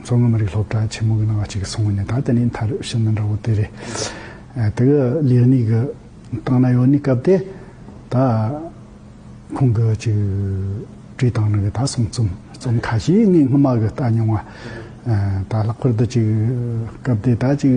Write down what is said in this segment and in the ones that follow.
མཚོ་སྔོན་མི་རིགས་སློབ་གྲྭ་ཆེན་མོ་གི་ནང་བ་གཅིག་གི་སྲུང་བ་ནི་ད་དེ་ནི་མཐར་ཕྱིན་མི་འདྲ་བོ་དེ་རེད། དེ་གི་ལེགས་ཉེས་གི་སྟངས་ན་ཡོད་ནི་སྐབས་དེ་ད་ཁོང་གི་ཅིག་བྲིས་སྟངས་ནི་གི་ད་གསུང་རྩོམ་རྩོམ་ཁ་ཤས་ངས་སྔོན་མ་གི་ལྟ་མྱོང་བ། ད་ལྷག་པར་དུ་ཅིག་སྐབས་དེ་ད་ཅིག།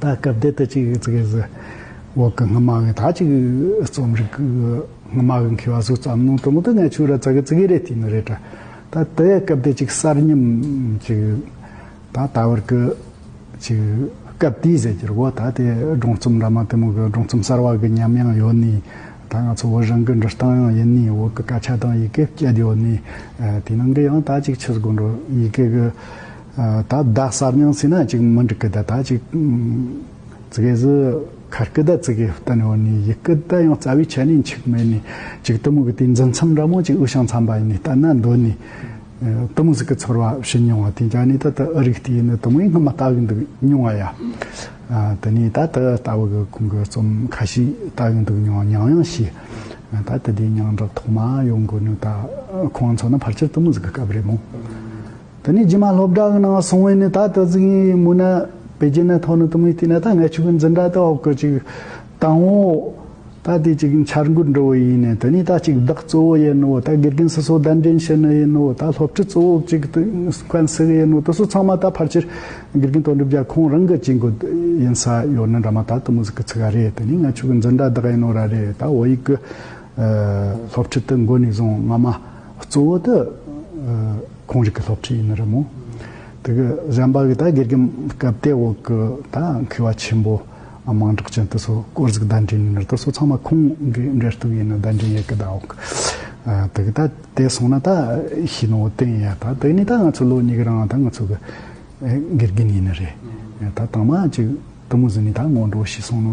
ད་སྐབས་འདི་ལྟར་ཅིག་ཙི་གེ་ཟི་འོག་གི་སྔ་མ་བས་ད་ཅིག་རྩོམ་རིག་གི་སྔ་མ་བས་མཁས་པ་ཟུར་ཙམ་ནང་དུ་མུ་མཐུད་ནས་ཆུ་ར་ཙི་གེ་ཙི་གེ་རེ་བསྟི་ནི་རེ་བྲལ། ད་དེ་སྐབས་འདི་ཅིག་གསར་རྙིང་ཅིག་ད་ད་བར་གྱི་ཅིག་སྐབས་དེའི་ཟེར་རྒྱུར་འོ་ད་དེ་སྒྲུང་རྩོམ་འདྲ་མང་དེ་མོ་གི་སྒྲུང་རྩོམ་གསར་བ་གི་ཉམས་ཡང་ཡོད་ནི་ད་ང་ཚོ་བོད་རང་གི་འབྲི་སྟངས་ཡང་ཡིན་ནི་འོག་གི་སྐད་ཆ་དང་ཡི་གེ་བསྐྱེད་ཡོད་ནི་དེ་ནང་གི་ཡང་ད་ཅིག་ཆུ་ཟི་དགོན་འགྲོ་ཡི་གེ་གི་ད་བདག་གསར་རྙིང་ཚིག་སྣ་གཅིག་མི་འགྲིག་སྐུ་བདག་དག་ཅིག། ཙི་གེ་ཟི་ཁ་སྐུ་བདག་ཙི་གེ་བསྟན་འོག་ནས་ཡི་སྐུ་བདག་ཡང་རྩ་བའི་ཆ་ནས་འཆིག་མེད་ནས་ཅིག་གཏི་མུག་གི་དེའི་འཛིན་མཚམས་འདྲ་མོ་ཅིག་དབུས་ཤངས་མཚམས་པ་ཡིན་ནས་བལྟ་ན་འདོད་ནས། གཏི་མུག་ཟིག་གི་ཚོར་བ་ཞི་མྱོང་བ་དེ་འཇགས་ནས་ད་ལྟ་ཨི་རིག་སྟེ་ཡིན་ནི་གཏི་མུག་སྔ་མ་ལྟ་གི་འདུག་མྱོང་བ་ཡ། དེ་ནས་ད་ལྟ་ལྟ་བུ་གི་ཁུང་གི་རྩོམ་ཁ་ཤས་ལྟ་གི་འདུག་མྱོང་མྱང་ཡང་ཤེས། ད་ལྟ་དེའི་མྱང་གྲགས་ཐོག་མ་ཡོང་དགོས་ནི་ད་ཁོང་ཚོ་ནི་ཕར་ཆེར་གཏི་མུག་ཟིག་གི་སྐབས་རེད་མོད། དེ་ནས་རྗེས་མ་སློབ་གྲྭ་གི་ནང་སོང་བས་ནི་ད་ལྟ་ཙི་གིའི་མུ་ན་བེ་རྗེ་ནས་ཐོག་ནི་དུ་མའི་དུས་ན་ད་ངའི་ཆུ་བོའི་འཛིན་གྲྭ་དེ་འོག་གི་ཅིག་དང་བོ། ད་དེ་གཅིག་འཆར་འགོད་འགྲོ་བ་ཡིན་ནི་དེ་ནས་ད་གཅིག་བདག་གཙོ་བོ་ཡིན་ནོ་ད་དགེ་རྒན་སོ་སོ་གདན་འདྲེན་བྱེད་ནི་ཡིན་ནོ་ད་སློབ་ཁྲིད་གཙོ་བོ་གཅིག་ཏུ་མཁན་ཟེར་གི་ཡིན་ནོ་དེ་ཚོ་ཚང་མ་ད་ཕར་ཆེར་དགེ་རྒན་དོན་གྲུབ་རྒྱ་ཁོང་རང་གི་ཅིག་འགོད་ཡིན་ས་ཡོད་ནི་འདྲ་མ་ད་དུ་མུ་ཟི་གི་ཚིག་ག་རེད་དེ་ནས་ངའི་ཆུ་བོའི་འཛིན་གྲྭ་བདག་ཡིན་ནོ་ར་རེད་ད་འོ་ཡིག་གི་སློབ་ཁྲིད་དུ་འགོད་ནས་བཟུང་སྔ་མ། གཙོ་བོ་དེ་ཁོང་རིགས་ཀྱི་སློབ་ཁྲིད་ཡིན་ནི་རེད་མོད། དེ་གི་གཞན་པ་གི་ད་དགེ་རྒན་སྐབས་དེ་འོག་གི་ད་མཁས་པ་ཆེན་པོ་དམངས་གྲགས་ཅན་དེ་ཚོ་དཀོར་གཟིགས་བརྡ་འཕྲིན་ནི་རེད་དེ་ཚོ་ཚང་མ་ཁོང་གི་འབྲས་གཏུགས་ཡིན་ནི་བརྡ་འཕྲིན་ཡས་ཀི་ད་འོག་གི་དེ་གི་ད་དེ་སོང་ན་ད་ཤི་ནོ་ཏན་ཡ་ད་དེ་ནི་ད་ང་ཚོ་ལོ་གཉིས་གི་རང་ད་ང་ཚོ་གི་དགེ་རྒན་ཡིན་ནི་རེད། ད་དང་མ་ཅིག་དུ་མུ་ཟི་ནི་ད་སྔོན་འགྲོ་ཤི་སོང་ནོ།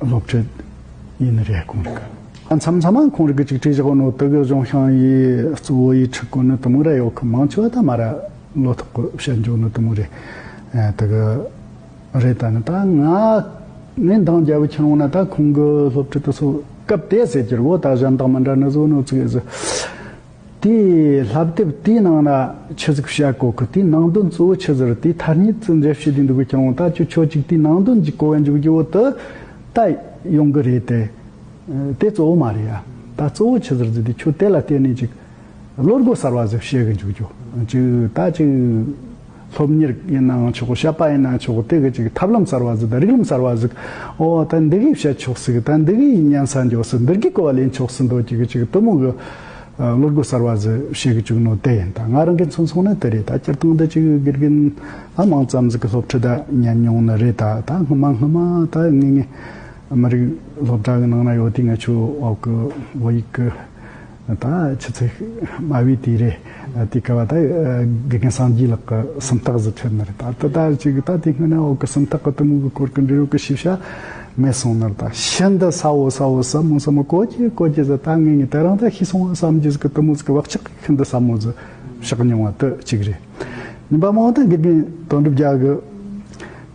སློབ་ཁྲིད་ཡིན་ནི་རེད་གོང་རིག། མཚམས་མཚམས་མང་ཁོང་རིག་གི་གཅིག་ཁྲིད་བཞག་པ་ནོ་ཏི་གི་གཞུང་ཤང་ཡི་གཙོ་བོ་ཡི་ཁྲི་ཀོ་ནི་ཏི་མུ་ར་ཡོག་གི་མང་ཆོས་བ་ད་མ་ར་ལོ་ཐོག་གི་བཤད་མགྱོགས་ནི་ཏི་མུ་རེ་ཏི་གི་རེ་ད་ནི་ད་ང་ནི་འདང་རྒྱ་བི་ཁྱི་རོང་ན་ད་ཁོང་གི་སློབ་ཁྲིད་དུ་སོ་སྐབས་དེ་ཟེར་གྱི་རི་བོ་ད་གཞན་དང་མི་འདྲ་ནི་བཟོ་ནོ་ཚིག་ཨེ་ཟི། དེ་ལྷབ་དེབ་དེའི་ནང་ན་ཆུ་ཟིག་བྱ་གོ་གི་དེའི་ནང་དོན་གཙོ་བོ་ཆུ་ཟིག་རི་དེའི་ཐར་ཉིད་ཙི་འདྲེ་བྱེད་དུས་འདུག་གི་ཁྱོད་ངོ་ད་ཁྱོད་ཆོས་གཅིག་དེའི་ནང་དོན་གྱི་གོ་བའི་མཇུག་གི་འོག་ཏུ་ད་ཡོང་གི་རེད་དེ། དེ་གཙོ་བོ་མ་རེད་ཡ། ད་གཙོ་བོ་ཆུ་ཟིག་རི་དེ་ཁྱོད་དེ་ལ་བལྟས་ནས་ཅིག་བློ་སྒོ་གསར་བ་ཟིག་བཤད་གི་འཇུག་རྒྱུ་ཅིག་ད་ཅིག། སློབ་གཉེར་ཡིན་ནའང་ཆོག་གོ་བཤད་པ་ཡིན་ནའང་ཆོག་གོ་དེ་གི་ཅིག་ཐབས་ལམ་གསར་བ་ཟིག་དང་རིགས་ལམ་གསར་བ་ཟིག་ཨོ་ད་འདི་གིས་བཤད་ཆོག་ཟིག་ད་འདི་གིས་ཉན་ས་འཇོག་ཟིག་འདིར་གི་གོ་བ་ལེན་ཆོག་ཟིག་མདོ་སྐྱིད་གི་ཅིག་གཏུམ་མོ་གི་བློ་སྒོ་གསར་བ་ཟིག་བཤད་གི་བཅུག་ནོ་དེ་ཡིན་ད་ང་རང་གི་མཚུངས་སོང་ནི་དེ་རེད་ད་སྤྱིར་བཏང་འདི་ཅིག་དགེ་རྒན་ཨ་མང་ཙམ་ཟིག་གི་སློབ་ཁྲིད་ད་ཉན་མྱོང་ནི་རེད་ད་ད་སྔོན་མ་སྔོན་མ་ད་ངེད་ངེད་མི་རིགས་སློབ་གྲྭ་གི་ནང་ན་ཡོད་དུས་ང་ཆུ་འོག་གི་བོད་ཡིག་གི། ད་ཆུ་ཚོད་དམའ་བས་དེ་རེད་དེ་ག་བ་ད་དགེ་རྒན་སངས་རྒྱས་ལགས་ཀྱི་སུམ་རྟགས་གཟི་ཁྲེལ་ནི་རེད་ད་ད་ད་ཅིག་ད་དེ་སྔོན་ན་འོག་གི་སུམ་རྟགས་ཀྱི་གཏི་མུག་གི་སྐོར་གྱི་འབྲི་རུ་གྱི་ཤེས་བྱ་མེད་སོང་ནི་རེད་ད་ཤིན་ཏུ་ས་འོག་ས་འོག་ཟབ་མོ་ཟབ་མོ་གོ་གྱིས་གོ་གྱིས་ཟེར་ད་ངེད་གཉིས་དེ་རིང་ད་ཤི་སོང་བ་བསམ་རྗེས་གྱི་གཏི་མུག་གི་བག་ཆགས་ཤིན་ཏུ་ཟབ་མོ་ཟིག་བཞག་མྱོང་བ་དུ་གཅིག་རེད་ཉིན་པ་མང་བོ་ད་དགེ་རྒན་དོན་གྲུབ་རྒྱལ་གྱི་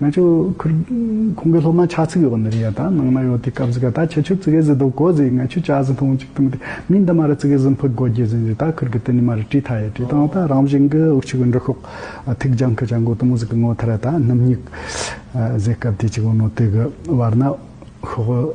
ང་ཅོ་ཁུར་ཁོང་གི་སློབ་མ་ཆགས་ཚིག་ཡོད་པ་འདི་རེད་ཡ་ད་ནང་ན་ཡོད་དེ་སྐབས་ཟིག་ག་ད་ཁྱེད་ཆུ་ཙི་གེ་ཟི་དོ་གོ་ཟི་ང་ཆུ་བྱ་ཟི་ཐོང་ཅིག་ཐུང་དེ་མིན་ད་མ་རི་ཙི་གེ་ཟི་འཕུག་གོ་རྒྱེ་ཟི་འཇི་ད་ཁུར་གི་དེ་ནི་མ་རི་བྲིས་ཐ་ཡ་བྲིས་ཐང་ད་རང་བཞིན་གི་དབུགས་ཆུ་གི་འབྲི་ཁོག་ཐིག་རྒྱང་གི་བྱ་འགོ་དུམ་ཟི་གི་ངོ་ཐ་ར་ད་སྣུམ་སྙིགས་ཟེ་སྐབས་དེ་ཅིག་བུ་མོ་དེ་གི་བར་ན་ཤོག་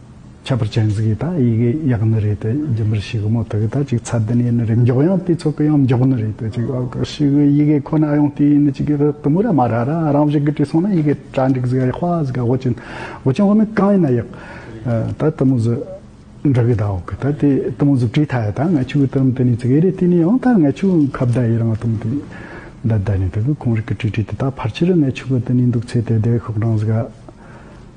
ཁྱད་པར་གྱེན་གཟིགས་ཡི་དྭགས་ཡི་གེ་ཡག་ནི་རེད་དེ་རྒྱུན་པར་ཤི་གི་མོ་དེ་གི་ད་ཅིག་ཚ་དེ་ནས་ཡིན་ནི་རེད་མགྱོགས་ཡང་དེ་ཚོ་གི་ཡང་མགྱོགས་ནི་རེད་དེ་ཅིག་ཨོ་ཀོ་ཤི་གི་ཡི་གེ་ཁོ་ན་ཡང་དེ་ཡིན་ནི་ཅིག་གི་དུ་མུ་ར་མ་ར་ར་རང་བཞིན་གི་བྲིས་སོང་ན་ཡི་གེ་གྲ་འགྲིག་གཟིགས་ཡ་ཧྥ་གཟིགས་ཡ་ཧོ་གྱིན་ཧོ་གྱིན་ཧོ་ནི་གང་ཡིན་ན་ཡག་ད་དུ་མུ་ཟི་འབྲི་གི་ད་ཨོ་ཀི་ད་དེ་དུ་མུ་ཟི་བྲིས་ཐ་ཡ་ད་ང་ཆུ་གི་དུ་རིམ་དེ་ནས་ཅིག་ཨེ་རེད་དེ་ནས་ཡང་ད་ང་ཆུ་ཁ་བརྡ་ཡི་རང་དུ་མུ་དེ་ད་ད་ནས་དེ་གི་ཁོང་རིག་གི་བྲིས་བྲིས་དེ་ད་ཕར་ཆིལ་རི་ང་ཆུ་གི་དུ་ནས་འདུག་ཚེ་དེ་དེ་ཤོག་གྲང་གཟིགས་ཡ།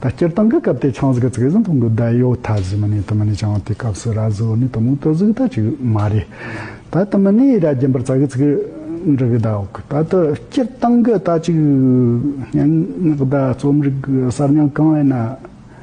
ད་སྤྱིར་བཏང་གི་སྐབས་དེ་ཆང་གཟུགས་ཀྱི་ཚིག་ཟིན་ཐུང་གི་བརྡ་ཡོད་ཐ་གཟི་མི་ནི་དུ་མི་ནི་ཆང་དེའི་སྐབས་སུ་ར་གཟུགས་ནི་དུ་མོའི་སྟོད་གཟུགས་ད་ཅིག་མ་རེད། ད་དུ་མི་ནི་ར་རྒྱན་པར་ཙག་གི་ཚིག་འབྲུ་གི་བརྡ་ཨོག་ད་དུ་སྤྱིར་བཏང་གི་ད་ཅིག་སྙན་ངག་བརྡ་རྩོམ་རིག་གསར་རྙིང་གང་ཡིན་ན།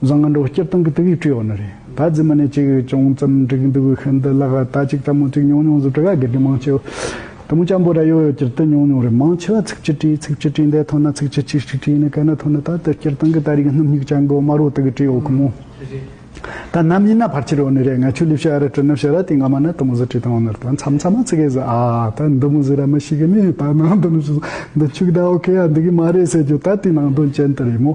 བཟང་ང་འགྲོ་སྐྱིད་སྟངས་ཀྱི་དུས་ཡིག་བྲིས་ཡོག་ནི་རེད་ད་རྫི་མ་ནས་ཅིག་ཅུང་ཙམ་འགྲིག་གི་འདུག་ཤི་འདི་ལག་ད་ཅིག་ལྟ་མོ་ཅིག་ཉུང་ཉུང་ཟུ་བྲི་ག་སྒེར་གྱི་མང་ཆེའོ་དུ་མོ་ཅམ་པོ་ར་ཡོ་ཡོ་ཀྱིར་ཏི་ཉུང་ཉུང་རེད་མང་ཆེ་བ་ཚིག་གཅིག་བྲིས་ཚིག་གཅིག་བྲིས་འདས་ཐོན་ན་ཚིག་གཅིག་ཅིག་ཅིག་བྲིས་ནས་ག་ན་ཐོན་ན་ད་ལྟ་སྐྱིར་སྟངས་ཀྱི་ད་རིག་སྣུམ་སྙིག་ཅན་གོ་མ་རོ་དག་གི་བྲིས་ཡོག་གི་མོ་ད་ནམ་ཡིན་ན་ཕར་ཆེར་ཡོག་ནི་རེད་ང་ཆུ་ལིབ་ཤ་ར་བྲི་ནུབ་ཤ་ར་དེ་སྔ་མ་ན་དུ་མོ་ཟུ་བྲིས་དང་ཡོག་ནི་རེད་ད་མཚམས་མཚམས་མ་ཚིག་གེ་ཟི་ཨ་ད་འདི་མོ་ཟི་ར་མི་ཤིག་གི་ནི་ད་ནང་དོན་ནི་ཤི་ཟོ་འདི་ཆུག་ད་ཨོ་ཁེ་ཡ་འདི་གི་མ་རེད་ཟེར་རྒྱུ་ད་དེ་ནང་དོན་ཅན་དུ་རེད་མོ།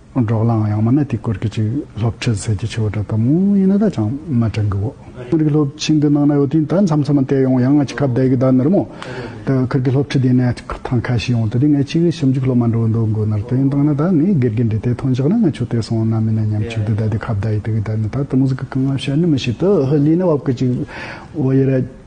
འབྲོག་ལའང་ཡང་མ་ན་དེའི་སྐོར་གྱི་ཅིག་སློབ་ཁྲིད་ཟེར་གྱི་ཆེ་བ་འདྲ་ལྟ་མོ་ཡིན་ན་ད་ཅང་མ་དྲན་གི་འོ། ཁུལ་གྱི་སློབ་ཁྲིད་འདི་གནང་ན་ཡོད་དུས་ད་མཚམས་མཚམས་མ་བལྟས་ཡོང་ཡང་ང་ཅི་ཁ་བརྡའི་གི་ད་ནུར་མོ། ད་ཁུལ་གྱི་སློབ་ཁྲིད་འདི་ནས་ཐང་ཁ་ཤི་ཡོང་དུས་དེ་ངས་ཅིག་གི་ཞིབ་འཇུག་སློབ་མ་འགྲོ་འདུག་མགོ་ནར་དེ་ཡིན་སྟངས་ན་ད་ངས་དགེ་རྒན་འདི་ལྟའི་ཐང་བཞག་ན་ང་ཆུ་ལྟས་སོང་ན་མིན་ན་ཉམས་ཆུང་དུས་ད་དེ་ཁ་བརྡའི་དུས་གི་ད་ནི་ད་དུ་མུ་ཟི་གི་རྐང་ལམ་ཤར་ནི་མི་ཤེས་དུ་ཧི་ལིའི་ནི་བབ་གི་ཅིག་འོ་ཡེ་ར།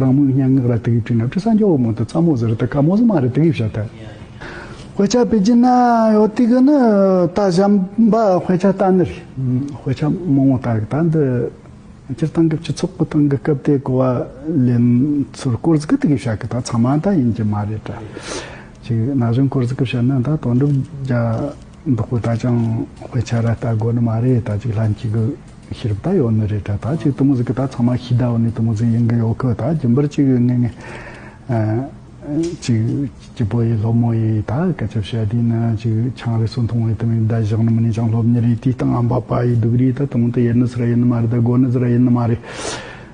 རང་མོས་སྙན་ངག་ལ་དུས་དབྱིབས་བྲིས་ན་བྲི་ས་མགྱོགས་བོ་མང་དུ་ཚ་མོ་ཟེར་རེ་ད་ག་མོ་ཟི་མ་རེ་དུས་དབྱིབས་བྱ་ཐལ། དཔེ་ཆ་པེ་ཅིན་ན་ཡོ་ཏི་གི་ནི་ད་བཞམ་པ་དཔེ་ཆ་ད་ནི་རེད། དཔེ་ཆ་མང་བོ་ད་གི་ད་འདི་སྤྱིར་བཏང་གི་སྤྱི་ཚོགས་སྐུ་ཐང་གི་སྐབས་དེ་གོ་བ་ལེན་ཚུལ་སྐོར་ཟི་གི་དུས་དབྱིབས་བྱ་གི་ད་ཚང་མ་ད་ཡིན་གྱི་མ་རེད་དྲ་ཅིག་ན་གཞོན་སྐོར་ཟི་གི་བྱེད་ན་ད་དོན་གྲུབ་རྒྱ། བདག་པོ་ད་ཅང་དཔེ་ཆ་ར་ལྟ་དགོས་ནི་མ་རེད་ད་ཅིག་ལྷན་གཅིག་གི་ཤེས་རབ་ད་ཡོད་ནི་རེད་ད་ད་ཅིག་དུ་མུ་ཟི་གི་ད་ཚང་མ་ཤི་ད་བ་ནི་དུ་མུ་ཟི་ཡིན་གི་ཡོད་གི་ད་རྒྱུན་པར་ཅིག་གི་ངེས་ངེས་ཅིག་སྐྱིད་པོ་ཡི་སློབ་མོ་ཡི་ད་སྐད་ཆ་བཤད་དུས་ནི་ཅིག་ཆང་རིས་སུ་མཐོང་བའི་དུ་མུས་ད་བཞག་ནི་མི་ནི་ཅང་སློབ་ཉི་རིག་དུས་སྟངས་ཨམ་པ་པ་ཡི་སྡུག་རིག་ད་དུ་མུ་ད་ཡེར་ནི་སུ་ར་ཡེར་ནི་མ་རེད་ད་དགོ་ནི་ཟི་ར་ཡེར་ནི་མ་རེད།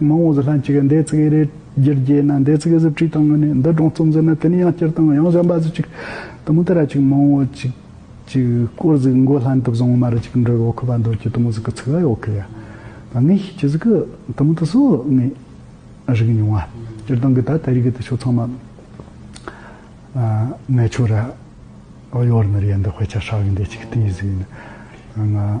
མང་བོ་ཟི་ལྷན་ཅིག་གི་འདས་ཚིག་ཨེ་རེད་རྒྱུ་རྒྱས་ན་འདས་ཚིག་ཨེ་ཟིག་བྲིས་དང་ངོས་ནས་འདི་སྒྲོངས་རྩོམ་ཟེར་ན་དེ་ནི་ཡང་སྐྱར་དང་ཡང་གཞན་པ་ཟི་ཅིག་དུ་མུ་དེ་ར་ཅིག་མང་བོ་ཅིག་ཅིག་སྐོར་ཟིག་མགོ་ལྷན་དུ་བཟུང་མར་ཅིག་འགྲོས་འོག་གི་བ་འདོད་ཀྱི་དུ་མུ་ཟི་གི་ཚིག་ཨེ་འོག་གི་ཡ་བ་ངས་ཤེས་ཀྱི་ཟི་གི་དུ་མུ་དུ་སོ་ངས་རིག་མྱོང་བ་སྤྱིར་བཏང་གི་ད་ལྟ་རིག་གི་དུ་ཆོ་ཚང་མ་ངས་ཆོ་ར་ཨོ་ཡོར་ནི་རེད་འདི་དཔེ་ཆ་ཧྲ་བའི་འདས་ཅིག་ཏི་ཡིས་ཟིག་ནི་ང།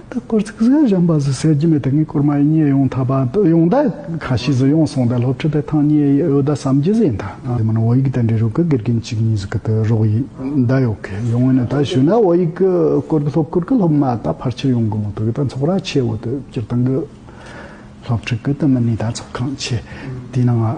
ད་སྐོར་ཚིག་གཟུགས་གཞན་པ་ཟུར་གསལ་རྒྱུ་མེད་དེ་ངས་སྐོར་མ་ཡིན་ཉེས་ཡོང་ཐ་པ་ཡོང་ད་ཁ་ཤས་ཟུར་ཡོང་སོང་ད་སློབ་ཁྲིད་པའི་ཐང་ཉེས་ཡོད་ད་བསམ་རྒྱུ་ཟིག་ཡིན་ད། དེ་མིན་བོད་ཡིག་དེ་འདྲའི་རུ་གུ་དགེ་རྒན་གཅིག་གཉིས་ཟིག་གི་དེ་རོགས་ཡིན་ད་ཡོད་གི་ཡོང་ཡིན་ད་ཞུས་ན་བོད་ཡིག་གི་སྐོར་གི་སློབ་སྐོར་གི་སློབ་མ་ད་ཕར་ཆེར་ཡོང་གི་མོད་དུ་གི་ད་འཚོགས་ར་ཆེ་བོ་དེ་སྤྱིར་བཏང་གི་སློབ་ཁྲིད་གི་དེ་མིན་ནས་ད་འཚོགས་ཁང་ཆེ་དེའི་ནང་ང།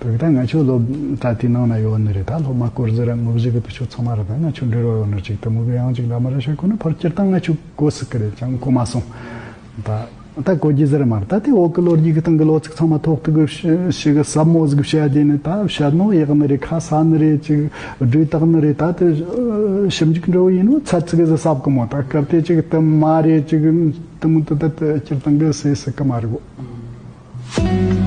བོད་ད་ང་ཆོས་སློབ་གྲྭ་དེའི་ནང་ན་ཡོད་ནི་རེད་ད་སློབ་མ་སྐོར་ཟིར་དངོས་གཞི་གི་བུ་ཆུ་ཚང་མ་རེད་ད་ང་ཆོས་འབྲེལ་བ་ཡོད་ནི་གཅིག་ད་མུ་གེ་ཡང་གཅིག་ད་མི་ར་ཤ་ཁོ་ན་ཕར་སྐྱེར་སྟངས་ང་ཆོས་གོ་སྲིད་གི་རེད་ཀྱང་གོ་མ་སོང་ད་ད་གོ་རྒྱུ་ཟིར་མ་རེད་ད་དེ་འོག་གི་ལོ་རྒྱུས་གི་སྟེང་གི་ལོ་ཚིགས་ཚང་མ་ཐོག་ཐུག་གི་ཤི་གི་ཟབ་མོ་གཟིགས་བྱ་རྒྱུ་ནི་ད་བྱ་རྣོ་ཡག་ནི་རེད་ཁ་ས་ནི་རེད་ཅིག་སྦྲུལ་སྟག་ནི་རེད་ད་དེ་ཞིབ་འཇུག་འབྲས་བུ་ཡིན་ནོ་ཚ་ཚིག་གཟི་ཟབ་གི་མོ་ད་སྐབས་དེ་ཅིག་དུ་མ་རེད་ཅིག་དུ་མུ་དུ་ད་སྐྱེར་སྟངས་གི་སྲིད་སྲིད་གི་མ་རེད་གོ།